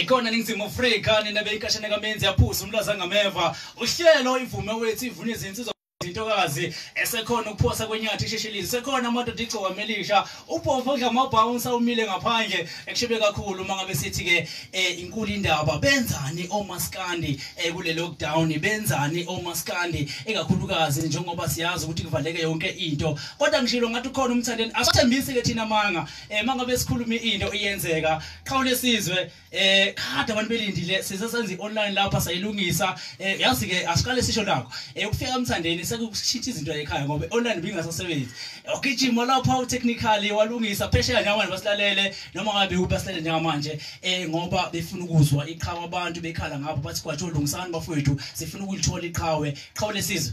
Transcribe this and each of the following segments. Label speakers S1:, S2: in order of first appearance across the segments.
S1: ikhona ningizimu afrika nina beyikashane kamenzi yaphuza umlaza ngameva uhlelo ivume wethu ivuna izinsizwa intokazi esekhona ukuphosa kwenyathi isheshilile sekhona amadoda igcoka melisha ubhovu odla amabhawunsa umile ngaphandle ekushebe kakhulu uma ngabe sithi-ke um inkulu indaba benzani omaskandi um eh, kule lockdown benzani omaskandi ikakhulukazi njengoba siyazi ukuthi kuvaleke yonke into kodwa ngishilo ngathi ukhona umthandeni asithembisi ke thina manga eh mangabe sikhuluma into iyenzeka qhawu lesizwe eh kade abantu belindile size senze online lapha sayilungisa eh yazi ke asiqale sisho nakho eh ukufika umthandeni sekushitha izinto ekhaya ngoba online bingasasebenzi ogijima lapha u technically walungisa phesheya njengamanje basilalele noma ngabe uphi asilalele njengamanje eh ngoba befuna ukuzwa iqhawe abantu bekhala ngabo bathi kwathi olungisani bafowethu sifuna ukulithola iqhawe qhawu lesizwe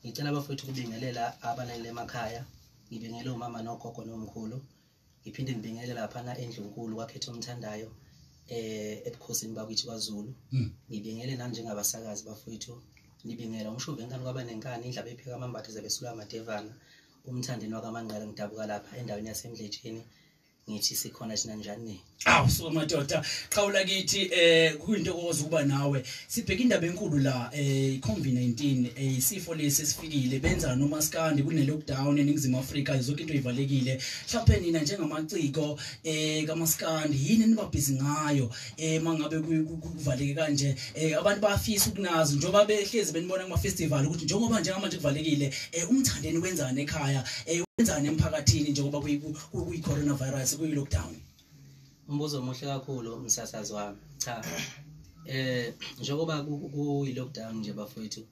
S2: ngicela abafowethu ukubingelela abalaleli emakhaya ngibingele umama nogogo nomkhulu ngiphinde ngibingelele laphana endlunkulu kwakhetha omthandayo eh ebukhosini bakithi kwaZulu hmm. ngibingele nami njengabasakazi bafowethu ngibingela umshuve enkani kwaba nenkani indlaba epheka amambatha zabesula amadevana umthandeni wakamanqala ngidabuka lapha endaweni yasemdletsheni ngithi sikhona thina njani awu suka madoda
S1: qhawula kithi eh kuyinto okwazi ukuba nawe sibheka indaba enkulu la eh iCovid-19 eh isifo lesi sifikile benza nomaskandi kune-lockdown eningizimu Afrika zonke into ivalekile mhlawumbe nina njengamaciko eh kamaskandi yini nibabhizi ngayo eh mangabe kuvaleke kanje eh abantu bafisa ukunazi njengoba behlezi benibona kuma-festival ukuthi njengoba njengamanje kuvalekile eh umthandeni wenzani ekhaya eh wenzani emphakathini njengoba kuyi coronavirus kuyi lockdown umbuzo
S2: omuhle kakhulu umsasazi wami cha eh njengoba kuyi lockdown nje bafowethu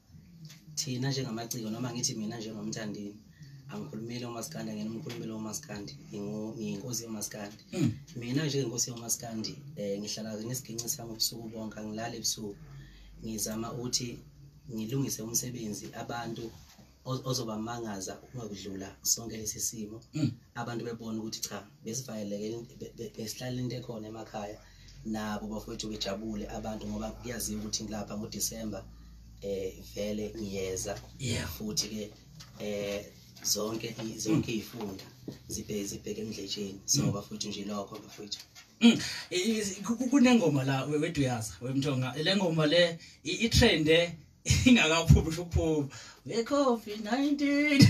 S2: thina njengamaciko noma ngithi mina njengomthandini angikhulumile umaskandi angena umkhulumile umaskandi ngiyinkosi yomaskandi hmm. mina njengenkosi yomaskandi um ngihlala ngesiginci sami ubusuku bonke angilali ebusuku ngizama ukuthi ngilungise umsebenzi abantu ozobamangaza uma kudlula sonke lesi simo mm. abantu bebona ukuthi cha besivayeleke besihlala into ekhona emakhaya nabo bafowethu bejabule abantu ngoba kuyaziwa ukuthi ngilapha ngoDecember eh vele ngiyeza futhi ke eh zonke zonke mm. izifunda zibheke zibheke emdletsheni so mm. bafowethu nje lokho bafowethu Mm. kunengoma
S1: la wedwa uyaza wemthonga le ngoma le itrende ingakaphumi usho ukuphuma ngecovid 19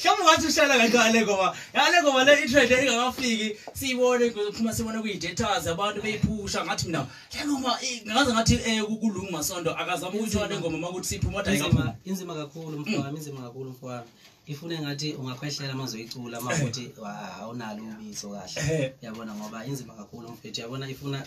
S1: hlawumbe wathi uhlala kancane ngoba yale ngoba le itrend engakafiki siyibone phuma sibone kuyi-datas abantu beyiphusha ngathi mina laluma ngaze ngathi um eh, kulungu masonto akazama ukuyithola ngoma uma ukuthi siphuma kodwa inzima kakhulu
S2: mfowami inzima kakhulu mfowami ifune ngathi ungakhwehlela uma zoyicula uma ukuthi awunalo ubizo kahle eh. yabona ngoba inzima kakhulu mfethu yabona ifuna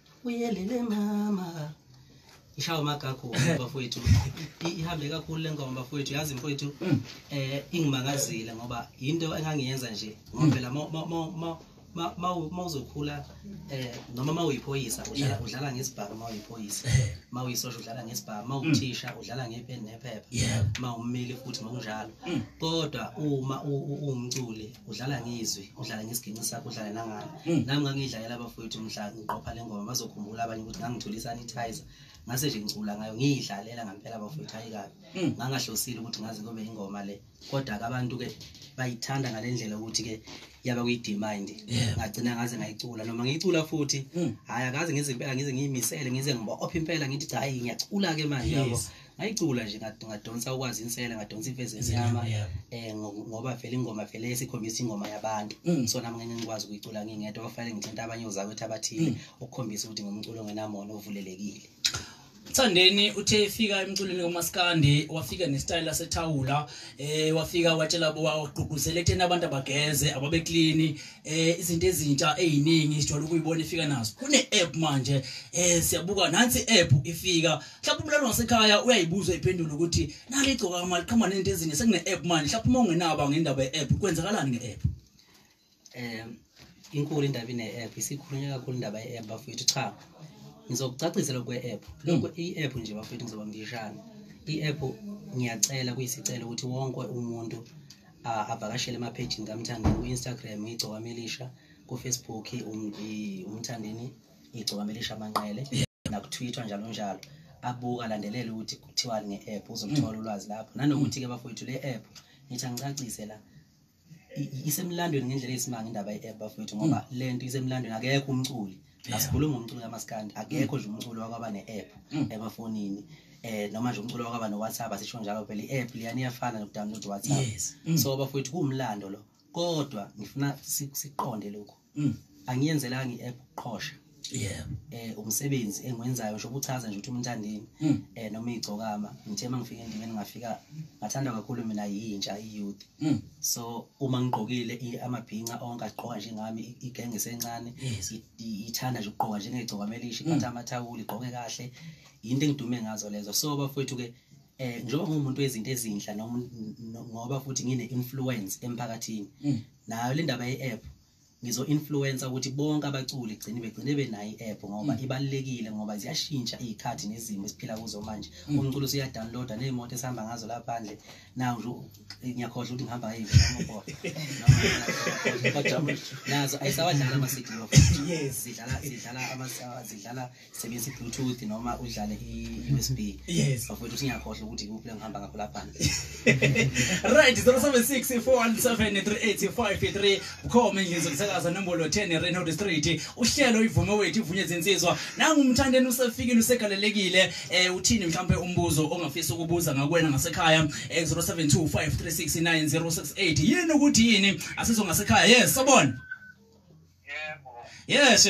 S2: uyelele mama ishawa amagakho bafowethu ihambe kakhulu le ngoma bafowethu yazi mfowethu um ingimangazile ngoba yinto engangiyenza nje ngoba phela mawuzokhula eh noma mawuyiphoyisa udlala udlala ngesibhamu mawuyiphoyisa eh. mawuyisosha udlala ngesibhamu mawuthisha mm. udlala ngepeni nephepha mawummeli futhi ngokunjalo mm. kodwa uma uwumculi udlala ngizwi udlala ngesiginci sakho udlala nangani hmm. nami ngangiyidlalela abafowethu mhla ngiqopha le ngoma bazokhumbula abanye ukuthi ngangithole isanitizer ngase nje ngicula ngayo ngiyidlalela ngampela abafowethu hayi kabi hmm. ngangahlosile ukuthi ngaze kube ingoma le kodwa-ke abantu-ke bayithanda ngale ndlela ukuthi-ke yaba kuyidemand ngagcina ngaze ngayicula noma ngiyicula futhi hmm. hhayi akaze ngize impela ngize ngiyimisele ngize ngibophe impela ngithi cha hayi ngiyacula-ke manje yabo ngayicula nje ngadonsa ukwazi insela ngadonsa imfezi enyama eh ngoba vele ingoma vele esikhombisa ingoma yabantu mm. so nami ngeke ngikwazi ukuyicula ngingedwa kwafanele ngithinta abanye ozakwethu abathile mm. ukukhombisa ukuthi ngumculo ngenamona ovulelekile Thandeni
S1: uthe efika emculweni womaskandi wafika nestyle sethawula eh wafika watshela bo waqhuquzela ethena abantu abageze ababe clean eh izinto ezintsha eziningi sijwala ukuyibona ifika nazo kune app manje eh siyabuka nansi app ifika mhlawumbe umlalo wasekhaya uyayibuza iphendula ukuthi nali igcoka kama liqhamba nento ezinye sekune-app manje mhlawumbe uma ungenaba ngendaba ye-app kwenzakalani nge-app um
S2: inkulu indaba ine-app isikhulunywa kakhulu indaba ye-app bafowethu cha ngizokucacisela kwe-app lokho hmm. i-app nje bafowethu ngizoba ngishana i-app ngiyacela kuyisicela ukuthi wonke umuntu avakashele emaphejini kamthandeni ku-instagram igcokamelisha kufacebook umthandeni igcokama elisha amanqele nakutwitter njalo njalo abuka landelele ukuthi kuthiwani nge-app uzoluthola ulwazi lapho nanokuthi-ke bafowethu le app ngithi angicacise la isemlandweni ngendlela eyisimanga indaba ye-app bafowethu ngoba mm. le nto isemlandweni akekho umculi asikhulumi ngomculo kamaskandi akekho nje umculo wakwaba ne-app mm. emafonini eh noma nje umculo wakwaba no-whatsapp asisho njalo phela i-app liyani iyafana nokudownload whatsapp mm. so bafowethu kuwumlando lo kodwa ngifuna siqonde lokho mm. angiyenzelanga i-app ukuqhosha yeah eh umsebenzi engiwenzayo ngisho ukuchaza nje ukuthi umntandini mm. eh noma igcokama ngithe mangifika endimeni ngafika ngathanda kakhulu mina yintsha iyouth mm. so uma ngigqokile amabhinca onke agqoka njengami igenge sencane ithanda nje ukugqoka njengegcokama elishi mm. phatha amathawuli igqoke kahle into engidume ngazo lezo so bafowethu ke eh njengoba ngumuntu wezinto ezinhla noma ngoba futhi ngine influence emphakathini mm. nayo le ndaba ye-app ngizo influencer ukuthi bonke abaculi gcine begcine benayo i-app ngoba mm. ibalekile ngoba ziyashintsha izikhathi nezimo esiphila kuzo manje mm. umculo usuya download nezimoto esihamba ngazo la phandle nawo nje ngiyakhohle ukuthi ngihamba yivi noma kodwa nazo ayisawadlala ama-city yes zidlala zidlala zidlala sebenzisa i-bluetooth noma udlale i-usb yes bafowethu singakhohlwa ukuthi ikuphi lengihamba ngakho laphana
S1: right 0764173853 bukhoma endlini zokusakaza nombolo 10 reynold street uhlelo ivume wethu ivunye zinsizwa nangumthandeni usefikile usegalelekile um uthini mhlawumpe umbuzo ongafisa ukubuza ngakwena ngasekhaya um eh, 0725369068 yini ukuthi yini asizongasekhaya yes sobona yebo yes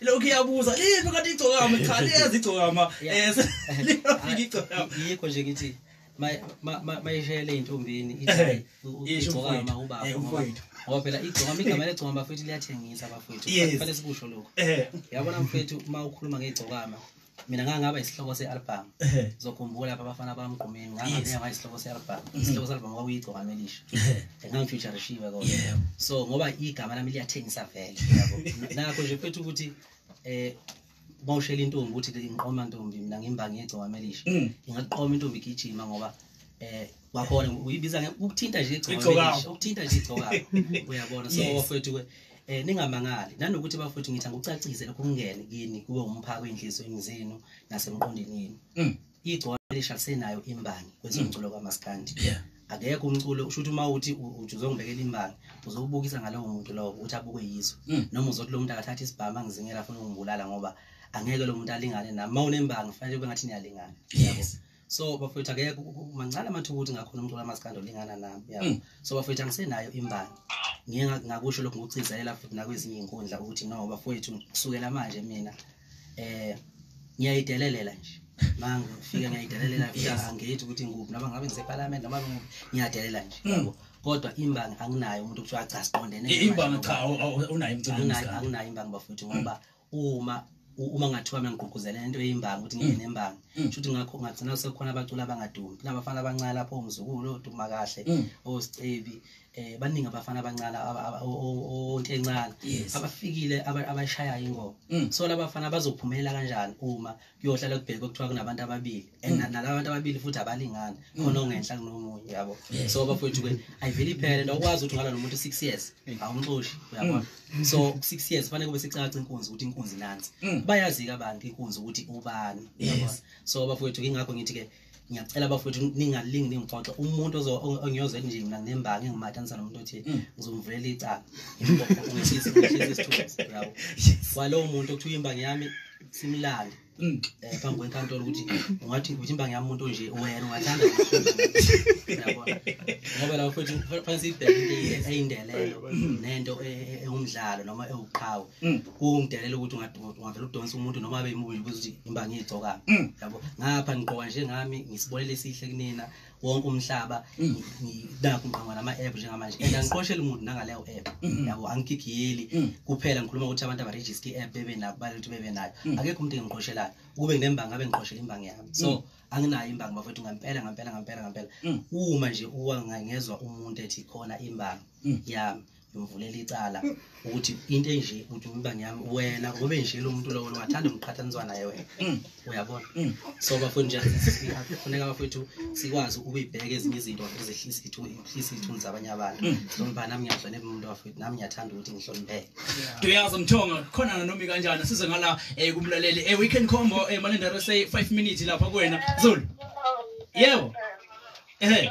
S1: lokhu iyabuza liphi kanti igcokama cha liyazi igcokama um liyafika igcokama yikho nje ngithi
S2: mayishayele ey'ntombini igcokama ubaba eh, ngoba phela igcokama igama legcokama bafethu liyathengisa bafethu fanele sikusho lokhu eh. yabona mfethu uma ukhuluma ngegcokama mina ngangaba isihloko se-album zokhumbula lapha abafana bamgqumeni ngangabe ngaba isihloko se-album mm. isihloko se-album kwakuyigcokama elisha ngangifeaturishiwe kodwa so ngoba igama lami liyathengisa vele nakho nje futhi ukuthi um bawushela intombi ukuthi ngiqoma ntombi mina ngimbangi yegcokama elisha mm. ingaqoma intombi igijima ngoba um wabona uyibiza ukuthinta nje igcoka ukuthinta nje igcoka uyabona so wafethu ke eh ningamangali nanokuthi bafethu ngithi angikucacise lokho kungene kini kube umphako enhlizweni zenu nasemqondweni yenu mm. igcoka lisha senayo imbangi kwezomculo kwamaskandi yeah akekho
S1: umculo usho
S2: ukuthi uma uthi uzongibekela imbangi uzokubukisa ngalowo muntu lowo ukuthi abukwe yizo mm. noma uzothi lo muntu akathatha isibhamu angizingela afuna ukungibulala ngoba angeke lo muntu alingane nami uma unembangi fanele kube ngathi niyalingana yes. so bafowethu akekho ku- ku- mancane amathuba ukuthi ngakhona umculo amaskandi olingana nami yabo Mm. so bafowethu angisenayo imbangi ngiye nga- ngakusho lokhu ngokugcizelela futhi nakwezinye iy'nkundla ukuthi no bafowethu kusukela manje mina eh ngiyayidelelela nje mangifike ngiyayidelelela futhi Yes. angithi ukuthi ngikuphi noma ngabe ngisephalamende noma ngikuphi ngiyadelela nje Mm. yabo kodwa imbangi anginayo umuntu kuthiwa cha siqondene I- imbangi cha awu-
S1: awu- unayo emculweni anginayo maskandi anginayo imbangi bafowethu
S2: ngoba uma uma ngathiwa mengigqugquzela into eyimbangi ukuthi ngibe mm. nembangi mm. shuthi ngakho ngagcina sekukhona abaculi abangadumi kunabafana abancane lapho umzukulu oduma kahle mm. osicebi eh baningi abafana abancane onke encane abafikile abashayayo ingoma so labafana bazophumelela kanjani uma kuyohlala kubheke kuthiwa kunabantu ababili and mm. nalaba bantu ababili futhi abalingani mm. khona ongenhla kunomunye yabo so bafowethu ke ayivele iphele nto ukwazi ukuthi ungalwa nomuntu six years mm. awumxoshi uyabona so six years fanele kube sicaca inkunzi ukuthi inkunzi nansi bayazika abantu inkunzi ukuthi ubani so bafowethu ingakho ngithi ke ngiyacela bafowethu ningalingi ningixoxe umuntu ongiyoze nje mina nginembangi ngimatanisa nomuntu othi mm. ngizomvulela icala kwalowo muntu okuthiwa imbangi yami simlale mm. eh, phambi kwenkantolo ukuthi ungathi ukuthi imbangi yami umuntu onje wena ungathanda ngoba lapho futhi fanele sibheke into eyindelelo nento e, e, ewumdlalo noma ewuqhawe mm. kungidelela ukuthi ungavele udonsa umuntu noma abe imubi nje ukuthi imba ngiyigcokanga mm. yabo ngapha ngiqoka njengami ngisibonele esihle kunina wonke umhlaba mm. nakho ngiqangwa nama-app njengamanje and angiqosheli umuntu nangaleyo app mm-hmm. yabo angigigiyeli mm. kuphela ngikhuluma ukuthi abantu abarejiske i-app bebe nabo bale ukuthi bebe nayo akekho umuntu engiqoshelayo ukube nginembangi abe ngiqoshela imbangi yami so anginayo imbangi bafethu ngampela ngampela ngampela ngampela uma nje uwangangezwa umuntu ethi khona imbangi yami ngimvulela icala ukuthi into enje ukuthi umbangi yami wena ngobe nje lo muntu lowo ungathanda umqhathaniswa naye wena mm. uyabona mm. so bafowethu nje siyafuneka bafowethu sikwazi ukuyibheka ezinye izinto ezehlisa ithunzi zabanye abantu mm. noma nami ngiyahlonipha umuntu bafowethu nami ngiyathanda ukuthi ngihlonipheke duyazi mthonga
S1: khona nomi kanjani size ngala eh, kumlaleli eh, weekend combo eh, malenda rsa 5 minutes lapha kuwena zulu yebo ehe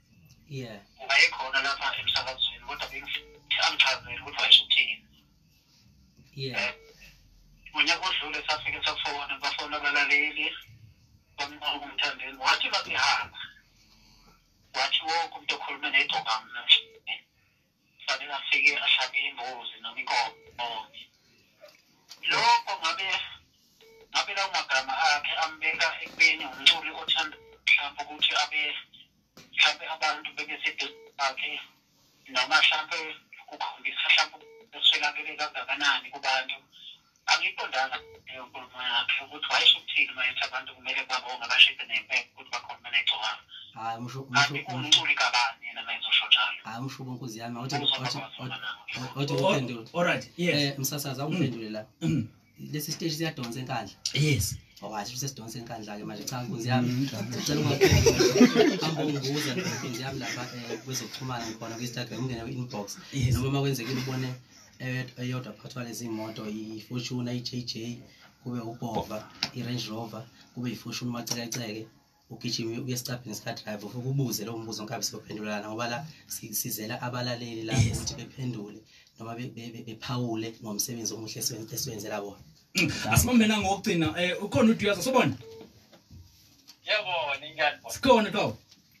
S2: yeah ngayikhona
S3: lapha emsakazweni kodwa bengithi angichazele ukuthi wayeshuthini
S2: yeah
S3: eh, unyaka odlule safike safona bafona abalaleli bamnqoka umthandeni wathi babehamba wathi wonke umuntu okhuluma neyigcokami namhlanje sabe nafike ahlabe imbuzi noma inkomo lokho ngabe ngabe lawo magama akhe ambeka ekubeni umculi othanda mhlawumbe ukuthi abe mhlawumbe abantu bebe seduze bakhe noma mhlawumbe kukhombisa mhlawumbe eswelakele kangakanani kubantu angiqondanga inkulumo yakhe ukuthi wayesho
S2: ukuthini uma ethi
S3: abantu kumele babonge bashise nempepho
S2: ukuthi bakhona benegcokama hayi musho kanti umculi kabani yena mayezosho njalo hayi musho
S1: bonkuzi yami othi othi uphendule
S2: alright yes eh msasaza ungiphendule la mm. lesi stage siyadonsa enkandla yes wathi
S1: oh, sesidonsa
S2: enkandla ke manje cha nkunzi yami ngicela ungahamba ungibuza nkunzi yami lapha eh, kwezokuxhumana ngikhona ku-instagram ungene kwi-inbox noma uma kwenzekile ubone eyodwa phathwa lezi moto i-fortuna i-jj kube ubhova i-range rover kube i-fortuna umacekeceke ugijime uye esicabhini sikadrive ufike ubuze lowo mbuzo nkabe siyophendulana ngoba la sizela abalaleli la ukuthi bephendule noma bephawule ngomsebenzi omuhle esiwenzela bona mm, asibambena
S1: ngokugcina um eh, ukhona uduyaza sobona yebo ninjani sikhona
S3: twawo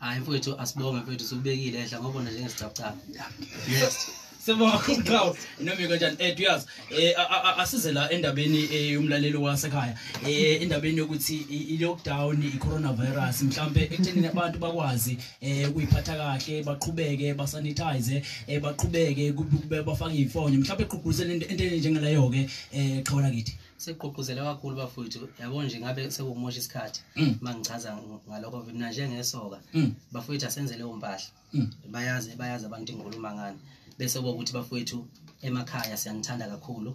S2: hayi mfowethu asibonge mfowethu siwubekile ehla ngoba nje ngesicabcaba yes Sibonga
S1: uqhawe noma kanjani eh duyazi eh asize la endabeni eh, yomlaleli wasekhaya eh endabeni yokuthi i lockdown i coronavirus mhlambe ekuthenini abantu bakwazi eh ukuyiphatha kahle baqhubeke ba sanitize eh baqhubeke bafake ifonyo mhlambe eqhugquzela into enteni njengaleyo ke eh qhawula kithi sekugqugquzele kakhulu
S2: bafowethu yabo nje ngabe sekumosha isikhathi mm. uma ngichaza ngalokho mina njengesoka mm. bafowethu asenze leyo mpahla mm. bayazi bayazi abantu inkuluma ngani bese kokuthi bafowethu emakhaya siyanithanda kakhulu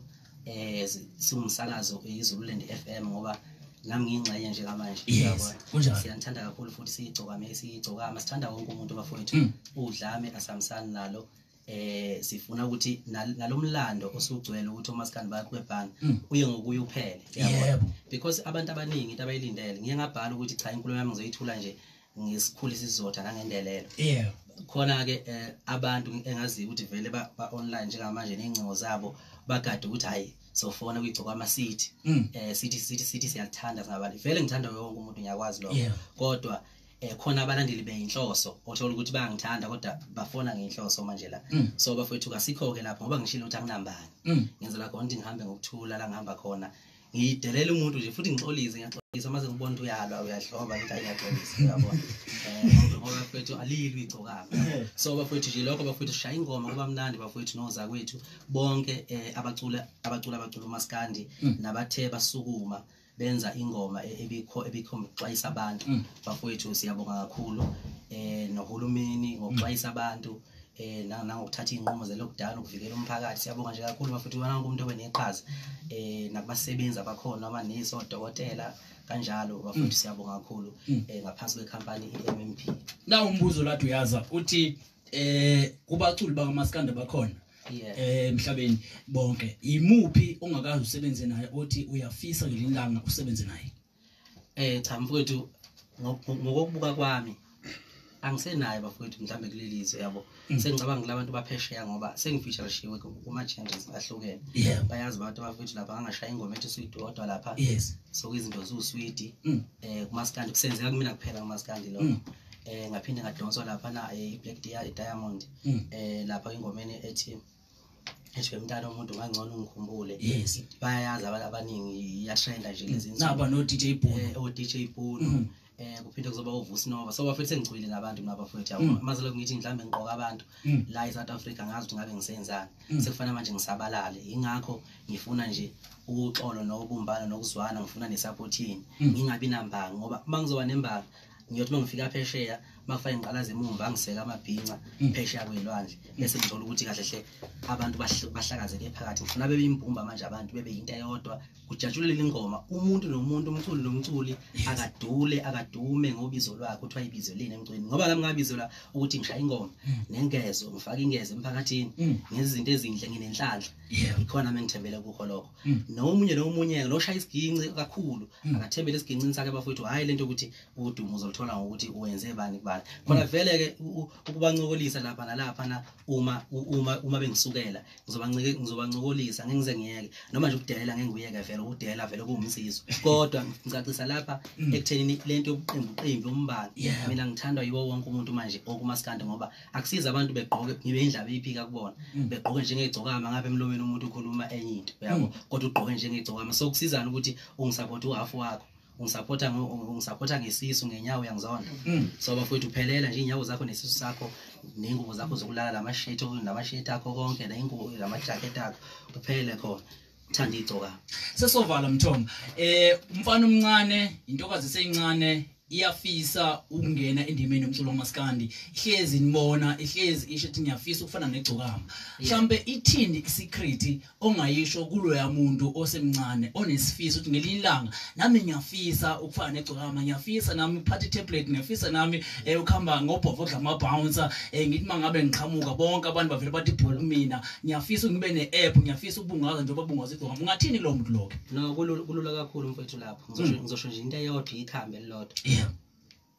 S2: eh siwumsakazo izululand FM ngoba nami ngiyingxenye nje kamanje uyabona siyanithanda
S1: kakhulu futhi
S2: siyigcokame siyigcokama sithanda wonke umuntu bafowethu udlame asamsani nalo eh sifuna ukuthi nal- nalomlando osugcwele ukuthi omaskandi bakho bebhanga Mm. uye ngokuye uphele yabo? Yebo. because abantu abaningi into abayilindele ngiye ngabhala ukuthi cha inkulumo yami ngizoyithula nje ngesikhulu isizotha nangendelelo yebo khona-ke um abantu engaziyo ukuthi vele ba- ba-online njengamanje ney'ngcingo zabo bagade ukuthi hhayi sofona kuyigcokwama city Mm. um sithi sithi sithi siyakuthanda singabantu vele ngithanda wonke umuntu ngiyakwazi lokho Yebo. kodwa eh khona abalandeli beyinhloso othola ukuthi bayangithanda kodwa bafona ngeinhloso manje la mm. so bafowethu kasikho ke lapho ngoba ngishilo ukuthi anginambani mm. ngenzela khona ukuthi ngihambe ngokuthula la ngihamba khona ngidelela umuntu nje futhi ngixolise ngiyaxolisa mase ngibona ukuthi uyalwa uyadloba ukuthi ayiyaxolisa uyabona eh, ngoba bafowethu alilwi igcokama so bafowethu nje lokho bafowethu shaya ingoma kuba mnandi bafowethu noza kwethu bonke eh, abacula abacula abacula umaskandi mm. nabathe basukuma benza ingoma e- ebikho ebikhomba ukuxwayisa abantu Mm. bafowethu siyabonga kakhulu eh nohulumeni ngokuxwayisa abantu eh na- nangokuthatha iy'nqumo ze-lockdown ukuvikela umphakathi siyabonga nje kakhulu bafowethu wonke umuntu obe neqhaza eh nakubasebenzi abakhona amanesi odokotela kanjalo bafowethu siyabonga kakhulu Mm. eh ngaphansi kwekhampani i-mmp na umbuzo
S1: lathi uyaza uthi eh kubaculi bakamaskanda bakhona eh emhlabeni bonke yimuphi ongakazi usebenze naye othi uyafisa ngelinye ilanga usebenze naye eh cha mfowethu
S2: ngokubuka kwami angisenayo bafowethu mhlawumbe kuleli zwe yabo mm. sengicabanga kula bantu baphesheya ngoba sengifeatureshiwe kuma-changes ahlukene bayazi abantu abafowethu lapha angashaya ingoma ethi uswidi odwa lapha so izinto ziwuswidi um mm. eh, kumaskandi kusenzeka kumina kuphela kumaskandi lokho um mm. eh, ngaphinde ngadonswa lapha na eh, i-black diamond mm. eh lapha ingomeni ethi esho mntana umuntu ngangcono ungikhumbule yes bayayazi abantu abaningi iyatrenda nje lezi insuku naba no DJ Bono
S1: eh o DJ Bono mm.
S2: eh kuphinde kuzoba uvusi nova so bafethu sengicwile ngabantu mina bafethu yabo mm. mazelo ngithi mhlambe ngiqoka abantu mm. la eSouth Africa ngazi ukuthi ngabe ngisenzani mm. sekufana manje ngisabalale ingakho ngifuna nje ukuxolo nokubumbana nokuzwana ngifuna nesupport yini ngingabi nambanga ngoba uma ngizoba nembanga ngiyothi mangifika phesheya makufake ngiqalaza emumva angiseka amabhinca mm. phesheya kwelwandle mm. bese ngithola ukuthi kahle hle abantu bahlakazeke phakathi ngifuna bebe imbumba manje abantu bebe yinto eyodwa kujatshulele ingoma umuntu nomuntu umculi nomculi akadule akadume ngobizo lwakhe kuthiwa ibizo lini emcweni ngoba lami ngabizelwa ukuthi ngishaya ingoma mm. nengezo ngifake ingezo emphakathini ngezinto ezinhle nginenhlanhla ikhona mengithembele kukho lokho Mm. nomunye nomunye loshaya isiginci kakhulu mm. akathembele esigincini sakhe bafowethu hhayi le nto ukuthi udumo uzoluthola ngokuthi wenze bani kubani khona mm. vele-ke ukubancokolisa lapha nalaphana uma uma uma bengisukela ngizobancokolisa ngeke ngize ngiyeke noma nje ukudelela ngeke ngiyeke vele ukudelela vele kuwumsizo kodwa ngicacisa lapha ekuthenini le nto yobuqembuqembu umbala mina ngithandwa yiwo wonke umuntu manje okumasikandi ngoba akusiza abantu begqoke ngibe indlaba iphika kubona mm. begqoke njengegcokama ngabe emlomeni umuntu ukhuluma enye into uyabo mm. kodwa ugqoke njengegcokama so kusizana ukuthi ungisupport uhalf wakho ungisupporta ungisupporta ngesisu ngenyawo yangizona mm. so bafowethu phelela nje inyawo zakho nesisu sakho nengubo zakho zokulala lamashirt lamashirt akho konke nengubo lamajacket akho kuphele khona thanda igcoka
S1: sesovala mthombo eh umfana
S2: omncane
S1: intokazi eseyincane iyafisa ukungena endimeni yomculo wamaskandi ihlezi nibona ihlezi isho ukuthi ngiyafisa ukufana negcokama mhlambe ithini isecret ongayisho kuloya muntu osemncane onesifiso ukuthi ngelinye ilanga nami ngiyafisa ukufana negcokama ngiyafisa nami ukuphatha itablet ngiyafisa nami eh, ukuhamba ngobhovo odla ama-bouncer eh, ngithi uma ngabe ngiqhamuka bonke abantu bavele bathi bhol mina ngiyafisa ngibe ne-app ngiyafisa ukubungaza njengoba bungaza igcokama ungathini lowo muntu loke no kulula
S2: kakhulu mfethu lapho ngizosho mm. ngizosho nje into eyodwa ikhambe elilodwa yeah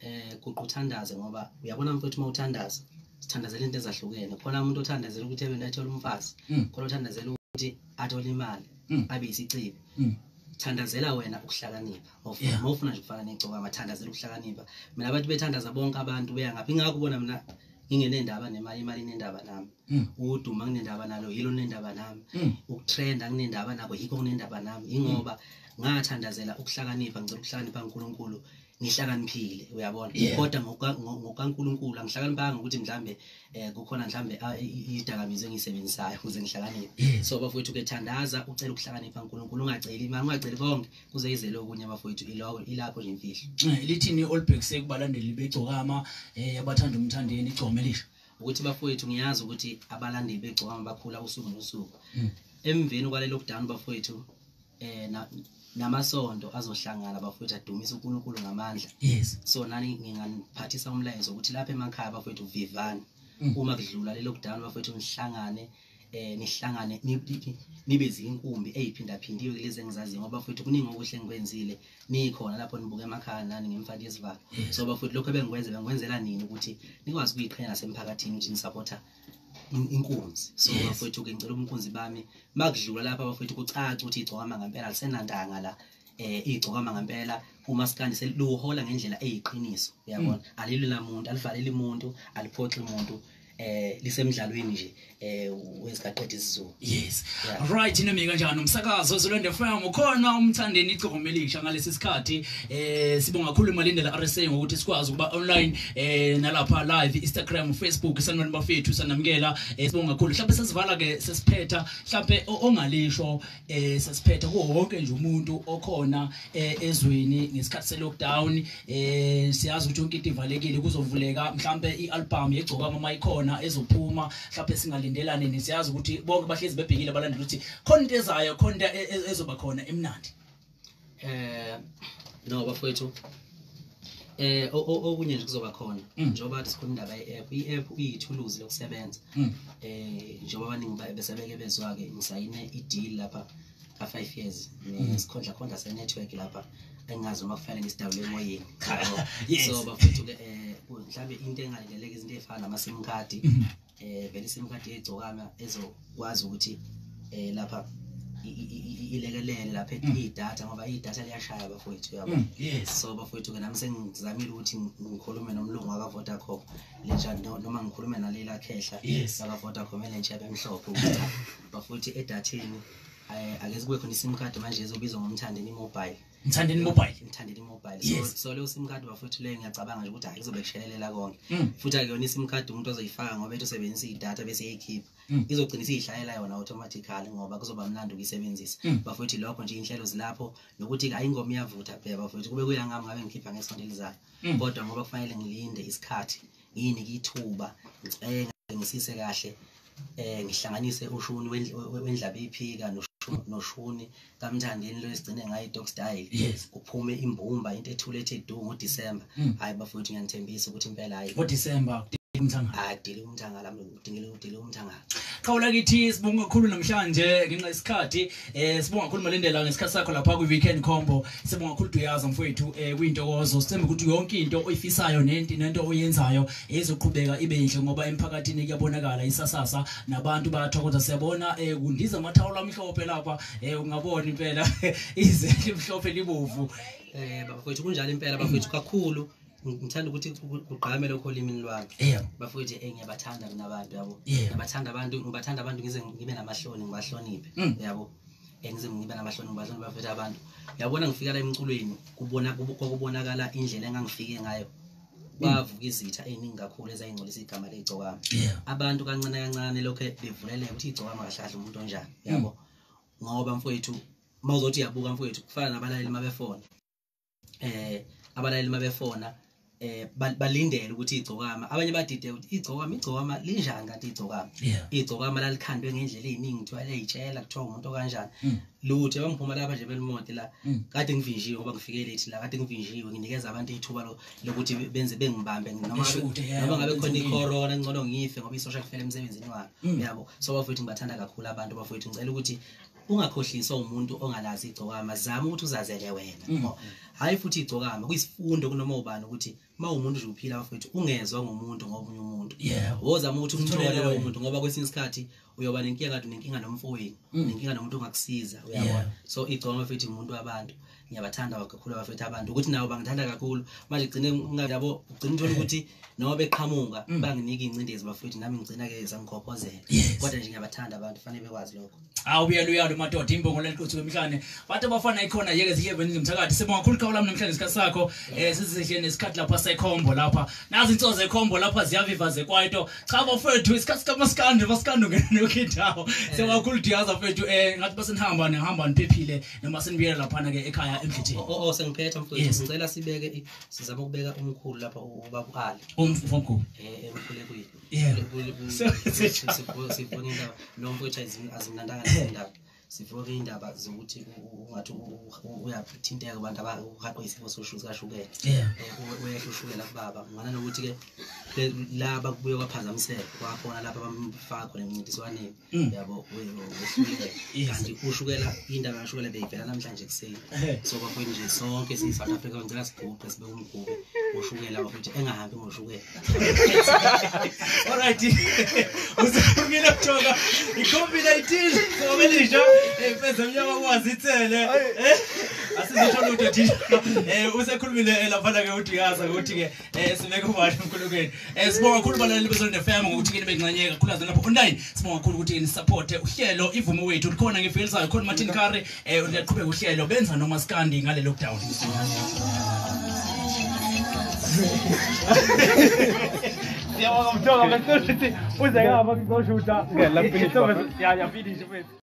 S2: eh kuquthandaze ngoba uyabona mfowethu uma uthandaza sithandazela into ezahlukene khona umuntu othandazela ukuthi ebe nathola umfazi mm. khona othandazela ukuthi athole imali mm. abe isicibi mm. thandazela wena ukuhlakanipha uma ufuna nje ukufana negcoka mathandazela ukuhlakanipha mina abantu bethandaza bonke abantu beya ngapha ingakho kubona mina ngingenendaba nemali imali inendaba nami mm. ukuduma kunendaba nalo yilo kunendaba nami mm. ukutrenda kunendaba nako yikho kunendaba nami yingoba mm. ngathandazela ukuhlakanipha ngicela ukuhlakanipha uNkulunkulu ngihlakaniphile uyabona kodwa ngokaNkulunkulu angihlakaniphanga ukuthi mhlambe eh kukhona mhlambe ah, idakamizwe engisebenzisayo ukuze ngihlakaniphe so bafowethu ke thandaza ucela ukuhlakanipha uNkulunkulu ungaceli imali ungaceli konke kuze izele okunye bafowethu iloko ilapho nje imfihlo eh, lithini olibhekise
S1: kubalandeli begcokama eh abathanda umthandeni igcome lisho ukuthi bafowethu
S2: ngiyazi ukuthi abalandeli begcokama bakhula usuku nosuku hmm. emveni kwalelo kudana bafowethu eh na namasonto azohlangana bafowethu adumise uNkulunkulu ngamandla yes so nani nginganiphathisa umlayezo ukuthi lapha emakhaya bafowethu vivani mm. uma kudlula lelo kudala bafowethu nihlangane eh nihlangane nibe zinkumbi eziphindaphindiwe kulezi engizaziyo ngoba futhi kuningi okuhle engikwenzile nikhona lapho nibuke emakhaya nani ngemfaki yesivalo so bafuthi lokho ebengikwenze bengikwenzela nini ukuthi nikwazi ukuyiqhenya nasemphakathini ukuthi nisupporta inkunzi so yes. bafowethu ke ngicela umkhunzi bami makudlula lapha bafowethu kucaca ukuthi igcokama ngempela lisenantanga la eh igcokama ngempela uma sikandi selihola ngendlela eyiqiniso uyabona mm. alilo lamuntu alivaleli umuntu aliphoxi umuntu eh lisemdlalweni nje eh wezigaqedisa izizulu Yes. Yeah. Right
S1: inemi kanjani umsakazo Zulende FM ukhona umthandeni igcoma elisha ngalesi sikhathi eh sibonga kakhulu imalindela RSA ngokuthi sikwazi ukuba online eh nalapha live Instagram Facebook sanibona bafethu sanamukela eh, sibonga kakhulu mhlawumbe sesivala ke sesiphetha mhlawumbe ongalisho eh sesiphetha kuwo wonke nje umuntu okhona eh, ezweni ngesikhathi se lockdown eh siyazi ukuthi yonke into ivalekile kuzovuleka mhlawumbe ialbum yegcoka mama ikhona ezophuma mhlawumbe singalindela nini siyazi ukuthi bonke bahlezi bebhekile balandela ukuthi khona into ezayo khona into e- e- ezoba khona emnandi eh
S2: no bafowethu eh o- o- okunye nje kuzoba khona Mm. njengoba kade sikhuluma indaba ye-app i-app iyithuluzi lokusebenza Mm. eh njengoba abaningi ba- besebeke bezwa-ke ngisayine i-deal lapha ka five years nesikhondla mm. khondla senetwork lapha engazi uma kufanele ngisidawule emoyeni so bafethu ke eh, mhlawumbe into engalindeleke izinto ey'fana nama-sim card um mm-hmm. eh, vele i-sim card eyigcokana ezokwazi ukuthi um lapha ilekelele lapha mm. idatha ngoba idatha liyashaya bafowethu yabo mm. yes so bafowethu ke nami sengizamile ukuthi ngikhulume nomlungu waka Vodacom lenja noma ngikhulume naleli akhehla yes aka Vodacom elenja bemhlophe ukuthi bafuthi edatheni eh, ake kube khona isim card manje ezobizwa ngomthandeni mobile mthandeni mobile mthandeni mobile yes. so, so leyo sim card bafuthi leyo ngiyacabanga nje ukuthi hayi kuzobe kushelelela konke mm. futhi akuyona isim card umuntu ozoyifaka ngoba ethi usebenzisa idata bese eyikhipha mm. izogcina isiyishayela yona automatically ngoba kuzoba mlando ukuyisebenzisa mm. bafuthi lokho nje inhlelo zilapho nokuthi hayi ingoma iyavutha phela bafuthi kube kuyangami ngabe ngikhipha ngesonto elizayo mm. kodwa ngoba kufanele ngilinde isikhathi yini kithuba ngicenge ngisise kahle eh ngihlanganise ushuni wendlaba iphika noshuni kamthandeni lo esigcine ngayo i-dog style yes. kuphume imbumba into ethule ethe du ngodisemba mm. hhayi mm. bafowethu ngiyanithembisa ukuthi impela hhayi ngodisemba
S1: adile umthangala
S2: mlungu udingile udile umthangala qhawula kithi
S1: sibonga kakhulu namhlanje ngenxa yesikhathi Eh sibonga kakhulu Malindela ngesikhathi sakho lapha kwi Weekend Combo. Sibonga kakhulu Duyaza mfowethu eh kuyintokozo. Sithemba ukuthi yonke into oyifisayo nenti nento oyenzayo ezoqhubeka ibe yinhle ngoba emphakathini kuyabonakala isasasa nabantu bayathokoza siyabona eh kundiza amathawula amhlophe lapha eh ungabona impela ize limhlophe libovu. Eh bafowethu
S2: kunjalo impela bafowethu kakhulu. ngithanda ukuthi kugqame lokho olimini lwami bafowethu eh ngiyabathanda mina abantu yabo ngiyabathanda abantu ngibathanda abantu ngize ngibe namahloni ngibahloniphe mm. yabo eh, ngize ngibe namahloni ngibahloni bafethu abantu yabona ngifika la emculweni kubona kokubonakala indlela engangifike ngayo kwavuka mm. izitha eziningi kakhulu ezayingcolisa igama legcokama abantu kancane kancane lokho bevuleleka ukuthi igcokama kahlahle umuntu onjani yabo mm. ngoba mfowethu mawuzothi uyabuka mfowethu kufana nabalaleli mabefona eh abalaleli mabefona eh balindele ukuthi igcokama abanye badide ukuthi igcokama igcokama linjani kanti igcokama igcokama lalikhandwe ngendlela eziningi kuthiwa leyitshela kuthiwa umuntu okanjani hmm. luthe bangiphuma lapha nje belimode la hmm. kade ngivinjiwe ngoba ngifike late la kade ngivinjiwe nginikeza abantu ithuba lokuthi benze bengibambe noma noma ngabe khona icorona ngcono ngife ngoba isosha kufela emsebenzini wami hmm. uyabo so bafowethu ngibathanda kakhulu abantu bafowethu ngicela ukuthi ungakhohliswa umuntu ongalazi igcokama zama ukuthi uzazele wena mm. hayi futhi igcokama kuyisifundo kunoma ubani ukuthi uma umuntu nje uphila bafethu ungezwa ngomuntu ngomunye umuntu wozama ukuthi umthole lowo muntu ngoba kwesinye isikhathi uyoba nenkinga kade nenkinga nomfowenu mm. nenkinga nomuntu ongakusiza uyabona so igcokama futhi umuntu wabantu ngiyabathanda kakhulu abafethu abantu ukuthi nabo bangithanda kakhulu manje gcine ngabo ugcina uthola ukuthi noma beqhamuka mm. banginika ingcindezi bafethu nami ngigcina ke sangikhokhozela kodwa nje ngiyabathanda abantu fanele bekwazi lokho awu uyalo uyalo madoda
S1: imbongo leliqothu kwemhlane bantu abafana ikhona yeke zihle beningi mthakathi sibonga kakhulu qhawe lami namhlanje isikhathi sakho eh sizihle nesikhathi lapha sekhombo lapha nazi insozo ekhombo lapha ziyaviva zekwaito cha bafethu isikhathi kamaskande maskande ngene nokhindawo eh. sewakakhulu diyaza fethu eh ngathi basenihamba nihamba niphephile noma senibuyela laphana ke ekhaya emfithini o oh, o oh, sengiphetha mfowethu
S2: ngicela sibeke sizama ukubeka umkhulu lapha uba kuali umfomkhulu eh
S1: umkhulu kuyi
S2: yeah sibona indaba lo mfowethu azimnandanga indaba sifuna indaba zokuthi ungathi uyathinteka abantu abahaqwe isifo sikashukela eh, uyehla ushukela kubaba ngana nokuthi-ke laba kubuye kwaphazamiseka kwakhona lapha bamfaka khona emncintiswaneni Mm. yabo kanti ushukela into akashukela beyivela namhlanje ekuseni so kwakuthi nje sonke siyi-south africa ngicela siguqe sibe umgube ushukela wakuthi engahambi ngoshukela
S1: olright usumile kujoka i-covid-19 obelisha emfeza mnyama kwazi ithele asizisho lutho thina um usekhulumile eh, laphana-ke udiyaza ukuthi-ke Eh sibeke ubani uNkulukeni. Eh sibonga kakhulu balaleli beZonde FM ngokuthi kini bencanyeka kakhulu azana lapho online. Sibonga kakhulu ukuthi ni support uhlelo ivume wethu likhona ngifelisayo khona Martin Curry eh uyaqhubeka uhlelo benza noma skandi ngale lockdown. Siyabonga mthongo bese
S4: uthi uze ngapha kuzoshuta. Yeah, la finish. Yeah, yeah, finish.